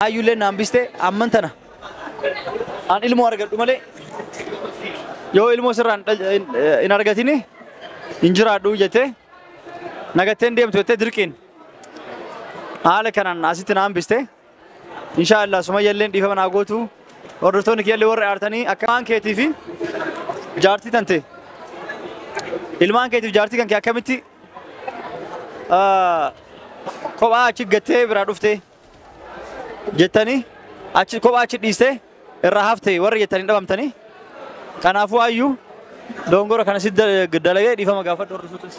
Ayyuulleen na hambiste amman tana an ilmoo argadhu malee yoo ilmoo sirraan dhal- hin- hin argatini hin jiraadhu jettee nagatteen deemtu jettee dirqiin haala kanaan asitti na hambiste inshaa Allah sumayyalleen dhiifama naa gootu hordoftoonni kiyyallee warri aartanii akka ilmaan keetii fi jaartii tante ilmaan keetiif jaartii kan kee akkamitti ah, kophaa achi gattee biraa dhuftee jettanii achi kophaa achi dhiiste irraa hafte warri jettanii dhabamtanii kanaafuu ayyuu dongora kana si dalagee dhiifama gaafadhu warri suutis.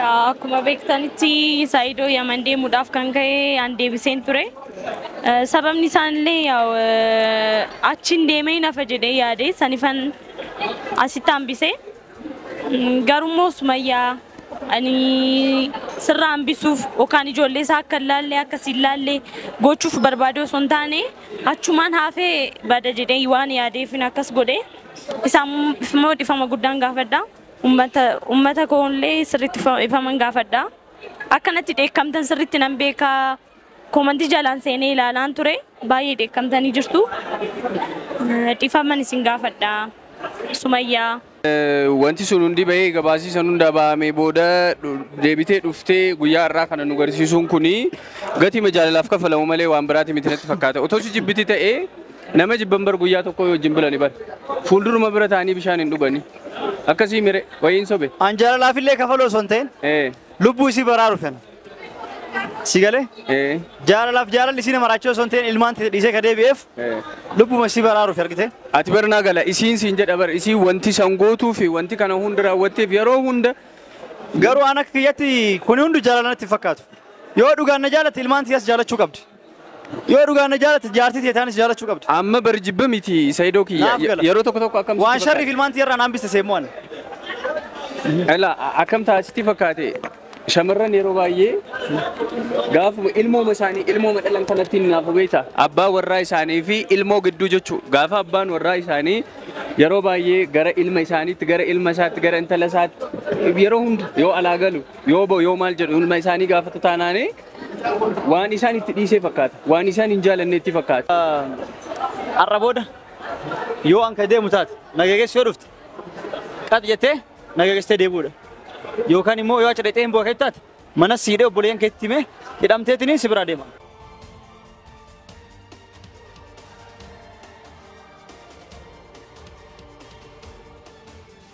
Akkuma beektanitti Saayidoo Yaman deemuudhaaf kan ka'e an deebiseen ture. Eh, Sababni isaanillee yaa'u, eh, achiin deemee nafa jedhee yaade sanifan asitti hambise. Garummoo Sumayyaa ani sirraa hambisuuf yookaan ijoollee isaa akka hin laalle akka si hin laalle gochuuf barbaadee osoo hin taane achumaan haafee bada jedhee waan yaadeefin akkas godhe isaan immoo dhifama guddaan gaafadha ummata ummata koollee sirriitti dhifaman gaafadha akkanatti dheekkamtan sirriitti nan beekaa Komantii jalaan seenee ilaalaan ture baay'ee dheekkamtanii jirtu. Dhifaman isin gaafadha. Sumayyaa. Wanti sun hundi bahee gabaasii san hundaa bahamee booda deebitee dhuftee guyyaa har'aa kana nu garsiisuun kuni gatima jaalalaaf kaffalamu malee waan biraati miti natti fakkaata. Otoo si jibbiti ta'ee nama jibban bar guyyaa tokko yoo wajjin bulani bar. Fuulduruma bira ta'anii bishaan hin dhugani. Akkasii mire wayiin sobe. An jaalalaafillee kafaluu osoo hin ta'in lubbuu isii baraaruuf. Si galee? Eh, Jaalalaaf jaalalli isiin maraachuu osoo hin ta'in ilmaan ta'e dhiisee ka deebi'eef eh. lubbuma isii baraaruuf argite. Ati bar naa gala isiin siin jedha bar isiin wanti san gootuu fi wanti kana hunda raawwatteef yeroo hunda Garuu aan akka kiyyatti kuni hundu jaalala natti hin fakkaatu. Yoo dhugaan na jaalatte ilmaan ta'e as jaalachuu qabdi. Yoo dhugaan na jaalatte jaartii tee taanis jaalachuu qabda. Amma bari jibba miti Saidoo kiyya. Naaf gala. Yeroo tokko tokko akkam Waan sitti sharriif ilmaan tiyyarraa naan biste seemmoo ani. fakkaate? Ela akkam ta'a sitti fakkaate? Shamarran yeroo baay'ee gaafuma ilmooma isaanii ilmooma dhalan kanatti hin naafu beekta. Abbaa warraa isaanii fi ilmoo gidduu jechuu. Gaafa abbaan warraa isaanii yeroo baay'ee gara ilma isaaniitti gara ilma isaatti gara intala isaatti yeroo hunda yoo alaa galu yoo ba'u yoo maal jedhu ilma isaanii gaafatu taanaanii Waan isaan itti dhiisee fakkaata. Waan isaan hin jaalanne itti fakkaata. Har'a booda yoo an ka deemu taate na geggeessi yoo dhufte qat jettee na geggeessitee deemuudha. Yookaan immoo yoo achi dhaqxee hin bu'a keetti taate mana siidhee obboleeyyan keetti himee hidhamteetiniin si biraa deema.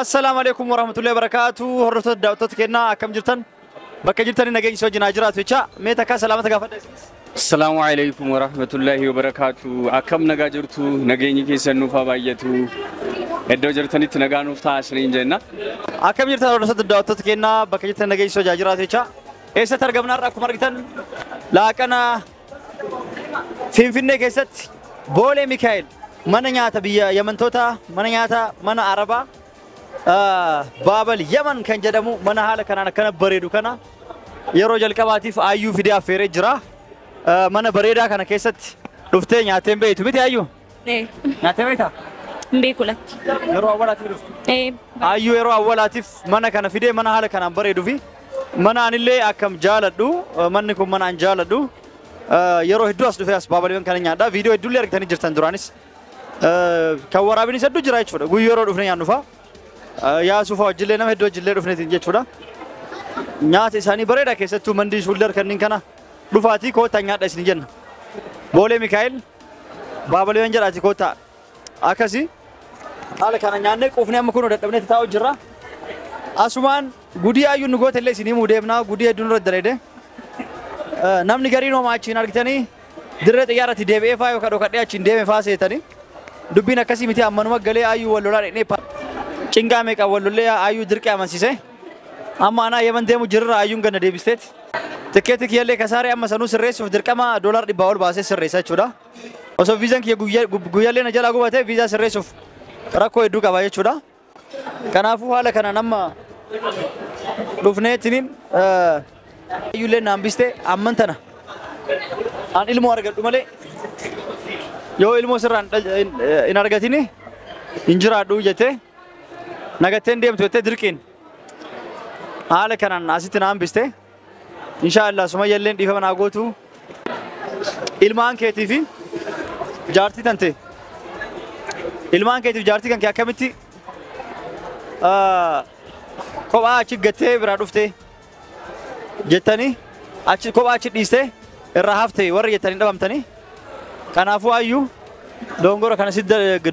Assalaamu alaikum warahmatullahi wabarakatuh. Hordoftoota daawwattoota kennaa akkam jirtan? Bakka jirtanii nageenyi isin wajjin haa jiraatu jecha mee takkaa salaamata gaafadha isinis. Assalamu alaikum wa rahmatullahi wa barakatuh. Akkam nagaa jirtu nageenyi keessan nuuf haa baay'atu. Iddoo jirtanitti nagaa nuuf ta'a isiniin jenna. Akkam jirtan hordoftoota daawwattoota kennaa bakka jirtan nageenyi isin wajjin haa jiraatu jecha eessatti argamna har'a akkuma argitan laaqana Finfinnee keessatti Boolee Mikaa'el mana nyaata biyya Yamantootaa mana nyaata mana Arabaa ah, Baabal Yaman kan jedhamu mana haala kanaan akkana bareedu kana yeroo jalqabaatiif ayyuu fidee affeeree jira. Ah, Mana bareedaa kana keessatti dhuftee nyaattee hin beektu miti ayyuu? Ee, Nyaatee beektaa? hin beeku lakki. Yeroo awwaalaatiif dhufte. Ee, Ayyuu yeroo awwaalaatiif mana kana fidee mana haala kanaan bareeduu fi mana anillee akkam jaaladhu eh, manni kun mana an jaaladhu eh, yeroo hedduu as dhufee as baabaliiwwan kana nyaadha viidiyoo hedduullee argitanii jirtan duraanis Eh, kan waraabinis hedduu jira jechuudha guyyuu yeroo dhufne nyaannu fa'a Eh, yaasuu fa'a wajjillee nama hedduu wajjillee dhufneetiin jechuudha nyaata isaanii bareeda keessattuu mandii shuullar kanneen kana dhufaatii koottaa nyaadha isin jenna boolee mikaa'el Baabalii yoon jedhaati koottaa. Akkasi haala kana nyaannee quufnee amma kunoo dadhabnetti taa'u jirra. Asumaan gudii ayyuun nu goote illee isin himuu deemnaa gudii hedduun irratti daleede. Namni gariin homaa achiin argitanii dirree xiyyaarratti deebi'ee faa yookaan dhokadhee achiin deeme faa seetanii. Dubbiin akkasii miti ammanuma galee ayyuu wal lolaa dhaqnee cinqaa meeqa wal lollee ayyuu dirqee amansiisee. Amma anaa Yemen deemu jirra ayyuun ganna deebisteeti. Tikkeetii kiyyallee kasaaree amma sanuu sirreessuuf dirqama doolaar dhibbaa ol baasee sirreessa jechuudha. Osoo viizaan kiyya guyya- gu- guyyallee na jalaa gubatee viizaa sirreessuuf rakkoo hedduu qaba jechuudha. Kanaafuu haala kanaan amma dhufneetiniin eh, ayyuullee naan bistee amman tana aan ilmoo argadhu malee yoo ilmoo sirraan dhal- hin- hin argatini hin jiraadhu jettee nagattee hin deemtu jettee dirqiin haala kanaan asitti na hambiste inshaallah sumayya illee dhiifama naa gootu ilmaan keetii fi jaartii tante ilmaan keetiif jaartii kan kee akkamitti ah, kophaa achi gattee biraa dhuftee jettanii achi kophaa achi dhiistee irraa hafte warri jettanii dhabamtanii kanaafuu ayyu dongora kana si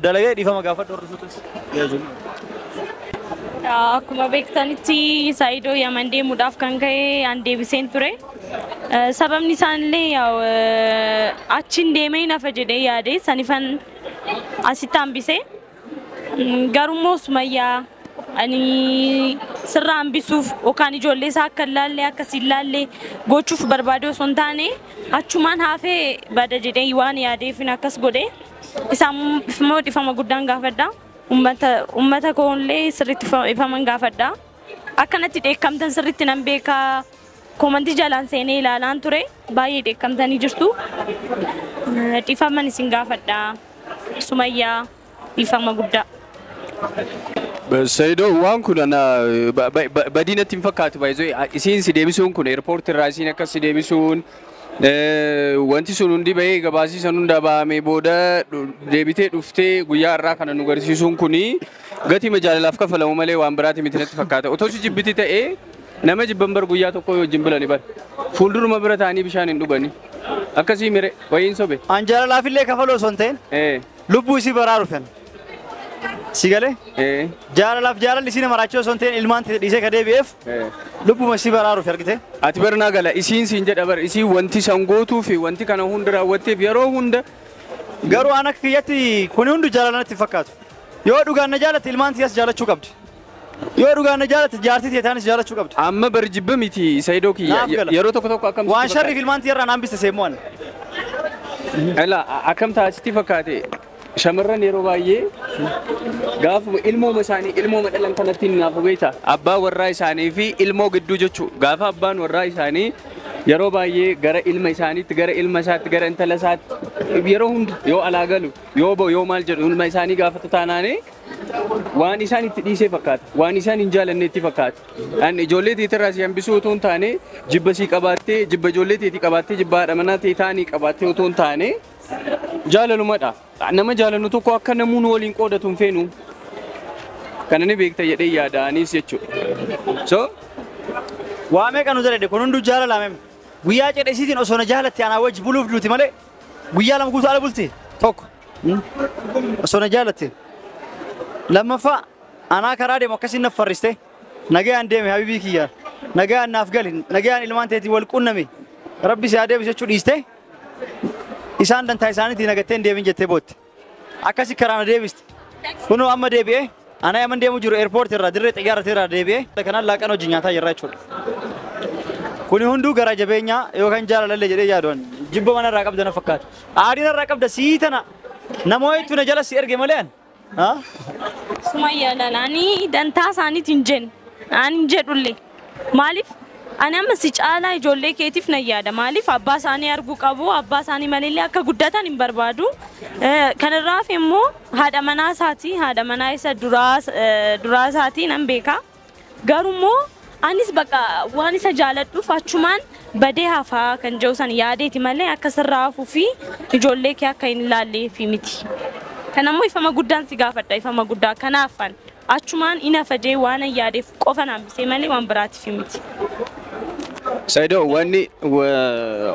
dalagee dhiifama gaafadhu hordoftuutis. Akkuma beektanitti Saayidoo Yaman deemuudhaaf kan ka'e an deebiseen ture. Eh, Sababni isaanillee yaw, eh, achiin deemee nafa jedhee yaade sanifan asitti hambise. Garummoo Sumayyaa ani sirraa hambisuuf yookaan ijoollee isaa akka hin laallee akka si hin laallee gochuuf barbaadee osoo hin taane achumaan haafee bada jedhee waan yaadeefin akkas godhe isaan immoo dhifama guddaan gaafadha. Ummata ummata koollee sirriitti dhifaman gaafadha. Akka natti dheekkamtan sirriitti nan beeka. Koomantii jalaan seenee ilaalaan ture. Baay'ee dheekkamtanii jirtu. Dhiifaman isin gaafadha. Sumayyaa dhiifama guddaa. Sayido waan kun ana badii natti hin fakkaatu baay'ee isiin si deebisuun kun eerpoorti irraa isiin akkas si deebisuun Wanti sun hundi bahee gabaasii san hundaa bahamee booda deebitee dhuftee guyyaa har'aa kana nu garsiisuun kuni gatiima jaalalaaf kaffalamu malee waan biraati miti natti fakkaata. Otoo si jibbiti ta'ee nama jibban bar guyyaa tokkoo yoo wajjin bulani bar fuulduruma bira ta'anii bishaan hin dhugani. Akkasii mire wayiin sobe. An jaalalaafillee kafaluu osoo hin ta'in. Lubbuu isii baraaru fena. Si galee? Ee. Jaalalaaf jaalalli isii nama raachoo osoo hin ta'in ilmaan ta'e dhiisee ka deebi'eef Ee. lubbuma isii baraaruuf argite. Ati bar naa gala isiin siin jedha bar isiin wanti san gootuu fi wanti kana hunda raawwatteef yeroo hunda Garuu ana akka kiyyatti kuni hundu jaalala natti hin fakkaatu. Yoo dhugaan na jaalatte ilmaan tiyas jaalachuu qabdi. Yoo dhugaan na jaalatte jaartii tee taanis jaalachuu qabda. Amma bar jibba miti Saidoo kiyya. Naaf gala. Yeroo tokko tokko akkam Waan sitti sharriif fakkaate? ilmaan tiyyarraa naan biste seemmoo ani. Ela akkam ta'a sitti fakkaate? Shamarran yeroo baay'ee gaafuma ilmooma isaanii ilmooma dhalan kanatti hin naafu beekta. Abbaa warraa isaanii fi ilmoo gidduu jechuu. Gaafa abbaan warraa isaanii yeroo baay'ee gara ilma isaaniitti, gara ilma isaatti, gara intala isaatti yeroo hunda yoo alaa galu, yoo ba'u, yoo maal jedhu ilma isaanii gaafatu taanaanii waan isaan itti dhiisee fakkaata. Waan isaan hin jaalanneetti fakkaata. An ijoollee teetirraa si hambisuu otoo hin taane jibba sii qabaattee jibba ijoollee teetii qabaattee jibba haadha manaa tee taanii qabaattee otoo hin taane jaalalumadha. Nama jaalannu tokko akka namuu nu waliin qoodatu hin feenu. Kana ni beekta jedhee yaada anis jechuudha. So Waa meeqa nu daladhe kun hunduu jaalala mem. Guyyaa cidha isiitiin osoo na jaalatte anaa wajji buluuf duuti malee Guyyaa lama guutuu ala bultee tokko osoo na jaalatte lammaffaa anaa karaa deemu akkasiin na farriste nagayaan deeme habibii kiyya nagayaan naaf gali nagayaan ilmaan teetii wal qunname rabbi si haa deebisu jechuu dhiiste isaan dantaa isaaniitiin nagatteen deemin jettee bootte. Akkasi karaa na deebiste. Kunoo amma deebi'ee anaa yaman deemu jiru eerpoorti irraa dirree xiyyaarati irraa deebi'ee kanaan laaqan hojii nyaataa jirra jechuudha. Kuni hunduu garaa jabeenyaa yookaan jaalalallee jedhee yaaduun jibba mana irraa qabda na fakkaata. Aadina irraa qabda sii tana namoo hedduu na jala si erge malee an. Sumayyaa lalaanii dantaa isaaniitiin jennu. Ani jedhulle Maaliif ani amma si caalaa ijoollee keetiif nan yaada. Maaliif abbaa isaanii arguu qabu, abbaa isaanii maleellee akka guddatan hin barbaadu. Kan irraa hafe immoo haadha manaa isaati, haadha manaa isa duraa duraa isaati nan beeka. Garuu immoo anis bakka waan isa jaaladhuuf achumaan badee hafaa kan jedhu san yaadeeti malee akka sirraa hafuu fi ijoollee kee akka hin ilaalleefi miti. Kan ammoo ifama guddaan si gaafadha, ifama guddaa kanaafan. Achumaan in hafa jee waanan yaadeef qofa na hambisee malee waan biraatiif miti. Saido wanni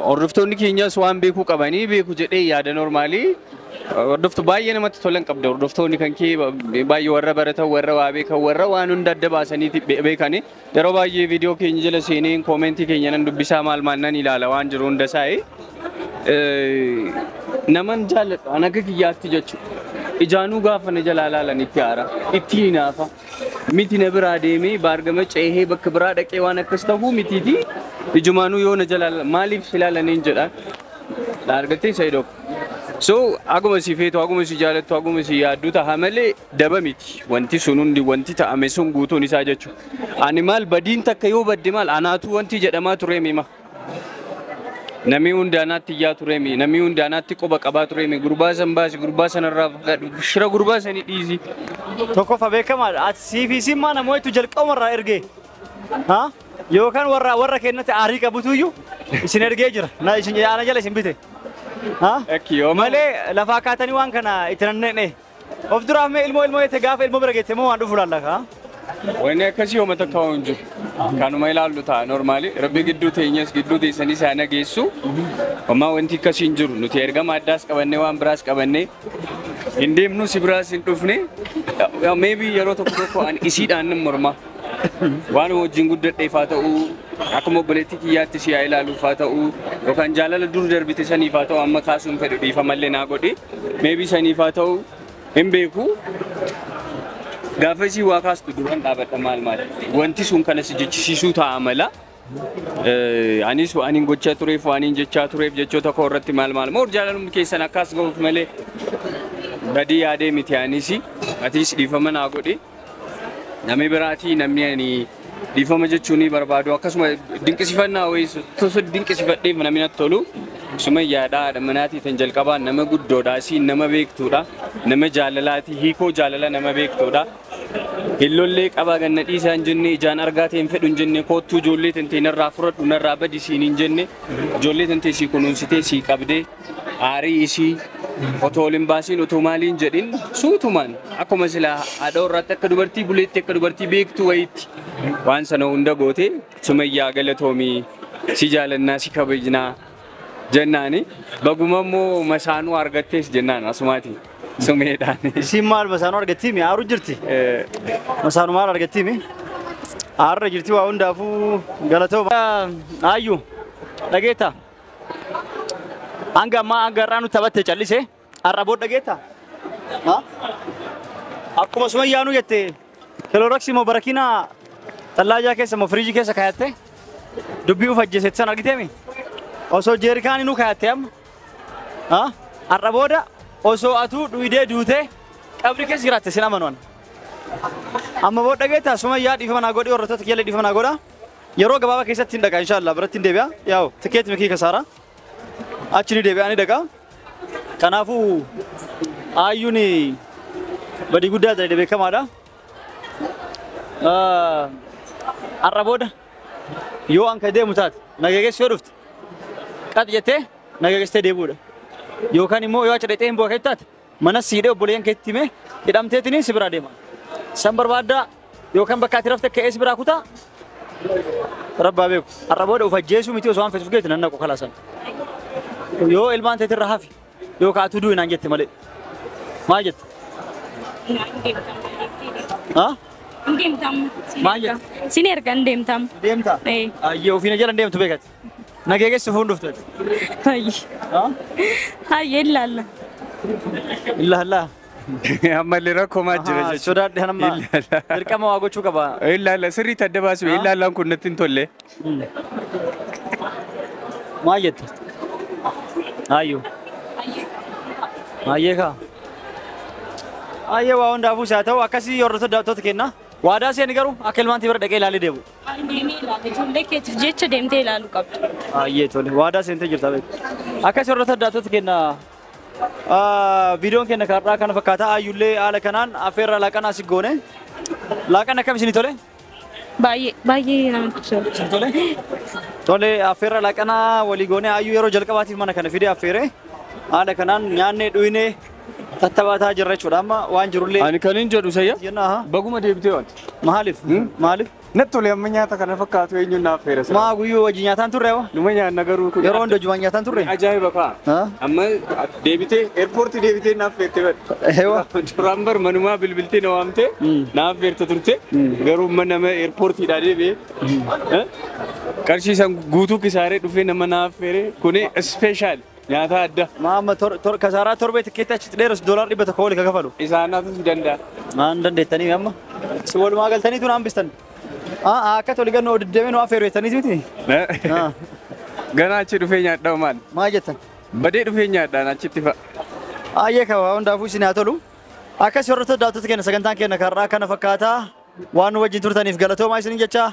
hordoftoonni keenyas waan beekuu qabanii beeku jedhee yaada normaalii hordoftu baay'ee namatti tolan qabda hordoftoonni kan kee baay'ee warra baratan warra waa beekan warra waan hunda adda baasanii beekanii Yeroo baay'ee viidiyoo keenya jala seeneen koomentii keenya nan dubbisaa maal maal nan ilaala waan jiru hunda isaa'e. Naman jaalladhu an akka kiyyaatti jechuudha. Ijaanuu gaafa na jalaa laalan itti aara, itti hinaafa. Miti na biraa deemee baargama ceehee bakka biraa dhaqee waan akkas ta'uu mitiiti. Ijumaanuu yoo na jalaa laalan maaliif si laalaniin jedhaan. Na argattee Saidoo. So haguma si feetu, haguma si jaalattu, haguma si yaaddu taha malee daba miti wanti sun hundi wanti ta'ame sun guutuun isaa jechu ani maal badiin takka yoo badde maal anaatu wanti jedhamaa tureemi ma namii hundi anaatti iyyaa tureemi namii hundi anaatti quba qabaa tureemi gurbaa san baasi gurbaa sanarraa fagaadhu shira gurbaa sanii dhiisi Tokkoffaa beekamaadha. Ati sii fi isin maana moo'etu jalqabumarraa ergee. Ha? Yookaan warra warra kennatti aarii qabutuyyuu isin ergee jira. Na isin ana jala isin bite. Ha? Akki yooma Malee lafaa kaatanii waan kana itti nanneenye. Of duraaf mee ilmoo ilmoo jette gaafa ilmoo bira geette moo waan dhufu laalla kaa? Wanni akkasii hooma takka waan jiru. Kanuma ilaallu ta'a normaali. Rabbi gidduu teenyas gidduu teessanii isaa nageessu. Homaa wanti akkasii hin jiru. Nuti ergama addaas qabannee waan biraas qabannee hin deemnu si biraas hin dhufne. Maybe yeroo tokko tokko an isiidhaan nan morma. Waanuma wajjin guddadheef haa ta'u, akkuma obboleettii kiyyaatti ishee haa ilaaluuf haa ta'u, yookaan jaalala dur darbite saniif haa ta'u amma kaasuu hin fedhu dhiifamallee naa godhi. Meebii saniif haa ta'u hin beeku. Gaafa isii waa kaastu duran dhaabadha maal maal wanti sun kana si jechisiisuu ta'a mala. Anis waanin gochaa tureef waanin jechaa tureef jechoota koo irratti maal maal moor jaalalumni keessan akkas ga'uuf malee badii yaadee miti anis atiis dhiifama naa godhi namni biraatii namni ani dhiifama jechuu ni barbaadu akkasuma dinqisifannaa wayiis tosa dinqisifadheef namni natti tolu sumayyaadha haadha manaatii tan jalqabaa nama guddoodha isiin nama beektuudha nama jaalalaatii hiikoo jaalala nama beektuudha. Hin lollee qabaa gad na dhiisaa hin jenne ijaan argaa tee hin fedhu hin jenne koottuu ijoollee tantee narraa furadhu narraa badi siin hin jenne ijoollee tantee sii kunuunsitee sii qabdee aarii isii otoo ol hin baasiin otoo maalii hin jedhin suutumaan akkuma silaa haadha warraatti akka dubartii buleetti akka dubartii beektuu wayiitti waan sana hunda goote sumayyaa galatoomii si jaalannaa si kabajnaa jennaani baguma immoo masaanuu argattees jennaan asumaatiin. Sumeedhaan. Isiin maal masaanuu argattii mi aaru jirti? Masaanuu maal argattii mi? Aarra jirti waa hundaafuu galatooma. Aayyu dhageetta. Hanga ammaa hanga har'aa nutti taphatte callise har'a booda dhageetta. Ha? Akkuma sumayyaanuu jette kiloroksii moo barakiinaa tallaajaa keessa moo firiijii keessa kaayatte dubbii uf ajjeesetti san argiteemi? Osoo jeerikaanii nuu kaayatte amma. Ah, Har'a booda osoo atuu dhuydee duutee qabri keessa jiraatte sin amanu ani. Amma booda dhageettaa sumayyaa dhiifama naa godhi warrattoota kiyyalee dhiifama naa godha. Yeroo gabaabaa keessatti hin dhaqa inshaallah biratti hin deebi'a. Yaa'u tikeeti mikii kasaara. Achi ni deebi'a ni dhaqa. Kanaafuu aayyuun badii guddaa ta'e beekamaadha. Ah, Har'a booda Yoo an ka deemu taate na geegessu yoo dhufte qax jettee na geegessitee deebi'uudha. Yookaan immoo yoo achi dhaqxee hin bu'a keetti taate mana siidhee obboleeyyan keetti himee hidhamteetiniin si biraa deema. San barbaaddaa yookaan bakka ati rafte ka'ee si biraa kutaa rabbaa beeku. Har'a booda of ajjeesuu miti osoo waan feetuuf geetti nan naqu kalaasan. Yoo ilmaan teetirra hafi Yoo ka atuu du'i naan jette malee. Maal jette? Haa? Maal jette? Sin erga hin deemtam. Deemta? Ee. Ayyee ofiina jala hin deemtu beekati. Nagee geessu fuun dhufte. Hayyi. Haa? Hayyi ilaalla. Illaa illaa. Ammallee rakkoo maal jira Ahaa, jechuudha. sodaadhe hanamma Ilaala. dirqama waa gochuu qaba. Ilaala sirriitti adda baasuu Ah. ilaalaan kun natti hin tolle. Maal jette? Ayyuu. Ayyee kaa. Ayyee waa hundaafuu isaa ta'u akkasii hordoftoota kenna. Waadaa seeni garuu akka ilmaantii bira dhaqee ilaalee deemu. Deemee ilaala. Ijoollee keetiif jecha deemtee ilaaluu qabda. Ayyee tole waadaa seentee jirta beeku. Akkasii hordoftoota kenna Viidiyoon keenya har'aa kana fakkaata. Ayyullee haala kanaan affeerraa laaqanaa si goone. Laaqan akkam isinii tole? Baay'ee baay'ee namatti tola. Isin tole? Tole affeerraa laaqanaa walii goone. Ayyuu yeroo jalqabaatiif mana kana fidee affeere. Haala kanaan nyaannee dhuyinee tattabataa jirra jechuudha. Amma waan jirullee Ani kan hin jedhu sayya. jenna. aha. Baguma deebitee wanti. Maaliif? Maaliif? Natti tole amma nyaata kana fakkaatu eenyuun naaf feera sila. Maa guyyuu wajjin nyaataan turre hoo? Numa nyaanna garuu kun. Yeroo hunda jumaan nyaataan turre? Ajaa'iba kaa. Haa? Amma deebitee eerpoortii deebitee naaf feerte bad. Ewa. Duraan bar manumaa bilbiltee na waamtee Mm. naaf feerte turte garuu amma nama eerpoortiidhaa deebi'ee eh, qarshii san guutuu kisaaree dhufee nama naaf feere kuni ispeeshaali. Nyaataa adda. Maa amma tor, tor, kasaaraa torbee tikkeetti achitti dheeressu doolaar dhibba tokko oli ka kafalu. Isaan hafuu si danda'a. Maan dandeettanii amma? Si walumaa galtaniitu naan bistan. Aa aa, akka toli gannu odiddeemee nu affeeru jettaniiti miti? Aa, Ganaa achi dhufee nyaadhaa maal? Maa jettan? Badee dhufee nyaadhaan achitti fa'a. Ayyee kawaa hundaafuu isin haa tolu. Akkas hordoftoota daawwattoota keenya sagantaan keenya karraa kana fakkaata. Waan nu wajjin turtaniif galatoomaa isinin jecha